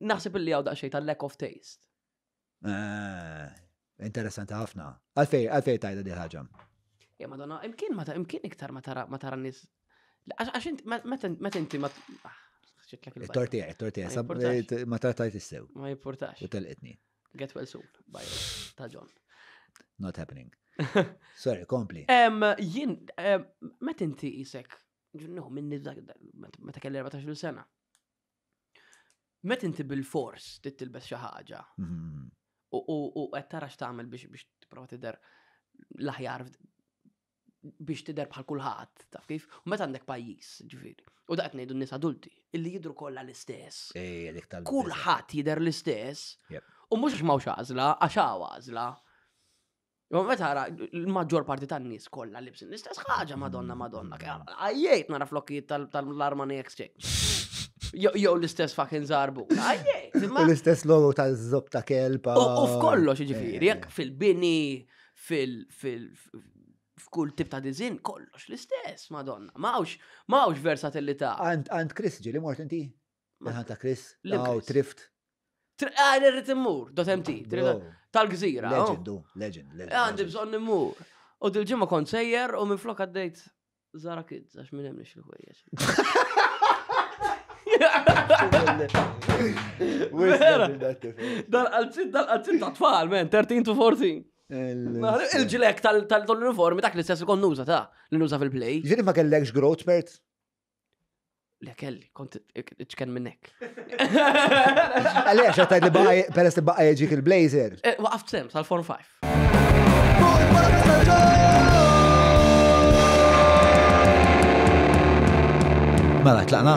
Naħseb li għaw daqxej ta' lack of taste. Eh, interessanti ħafna. Għalfej, għalfej tajda di ħagġa. Ja, madonna, imkien ma imkien iktar ma tara ma tara nis. Għax inti meta inti ma ah, Tortija, tortija, eh, ma tartajt issew. Ma jimportax. U telqitni. Get well soon, by ta' John. Not happening. Sorry, kompli. Jien, meta inti isek, ġunnu, minni meta kelli 14 sena, Met inti bil-fors tittilbes xi ħaġa. Mhm. U qed tara x'tagħmel biex biex tipprova tidher l-aħjar biex tidher bħal kulħadd, taf kif? U meta għandek pajjiż, ġifieri. U daqt ngħidu n-nies adulti, illi jidru kollha l-istess. Kulħadd jidher l-istess. U mhux għax m'hawnx għażla, għax hawn għażla. Jo, meta għara, l-maġġor parti tan nies kollha libsin l-istess ħaġa, madonna, madonna. Għajjejt nara flokkijiet tal-Armani Exchange. Jow l-istess fucking zarbu. Għajjejt. L-istess logo tal-zob ta' kelpa. U f'kollox, ġifiri, jek eh. fil-bini, fil- f'kull tip ta' dizin, kollox l-istess, madonna. Mawx, mawx versatilità. Għand Chris ġili mort inti? Maħan ta' Chris, Law, Trift. Għad irrit immur, dot MT, tal-gżira. Legend, legend, legend. Għandi bżon immur. U dil-ġimma kont sejjer u minn flok għaddejt Zara Kids, għax minn hemmx il-ħwejjeġ. Dal-qalzit, dal-qalzit ta' tfal, men, 13 to 14. Il-ġilek tal-uniformi dak li stess ikon nuża ta' li nuża fil-play. Ġiri ma kellekx growth spurt? Le kelli, kont ċken minnek. Għalija, xattajt li baqaj, peress li baqaj ġik il-blazer. Eh, waqaft sem, sal-form 5. Mela, tlaqna.